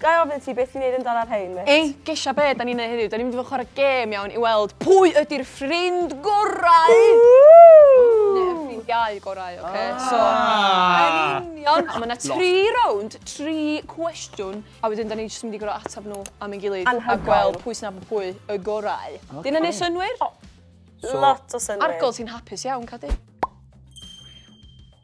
Ga i ofyn ti beth ti'n neud yn dal ar rhein, mêt? Ei, gesha be' 'dan ni'n neud heddiw, 'dan ni'n mynd i fod yn chware gêm iawn i weld pwy ydi'r ffrind gorau! Neu y ffrindiau gorau, ocê? So, yn union! A ma' 'na tri rownd, tri cwestiwn, a wedyn 'dan ni jyst yn mynd i gor'o' atab nhw am ein gilydd... Anhygoel! ...a gweld pwy sy'n nabod pwy y gorau. Ocê. 'Di hynna'n neud synnwyr? O, lot o synnwyr. Argold, ti'n hapus iawn, Cadi?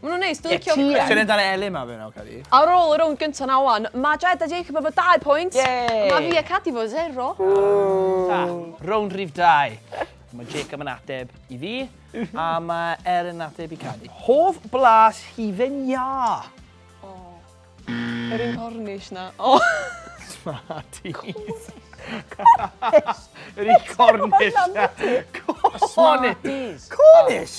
Mae nhw'n neis, dwi'n licio... Ie, ti yn! dan y elin ma fe nawr, Cadi. Ar ôl y rownd gyntaf na wan, mae Jed a Jacob efo dau pwynt. Yay! Mae fi a Cadi efo zero. Ta, rownd rhif dau. Mae Jacob yn ateb i fi, a mae Elin yn ateb i Cadi. Hoff blas hufen iâ? O, yr un cornish na. O! Smarties. Cornish. Yr un cornish na. Cornish. Smarties. Cornish!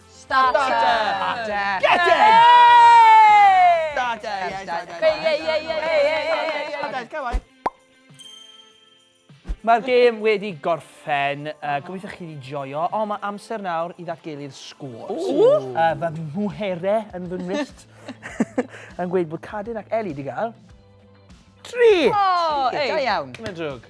Starter! Starter! Get in! Starter! Starter! Starter! Come on! Mae'r gêm wedi gorffen, uh, gobeithio chi wedi joio, ond mae amser nawr i ddatgelu'r sgôr. Uh, fy mhwhere yn fy ngwyllt yn gweud bod Cadin ac Eli wedi cael... Tri! Oh, ei, da iawn. Mae'n drwg.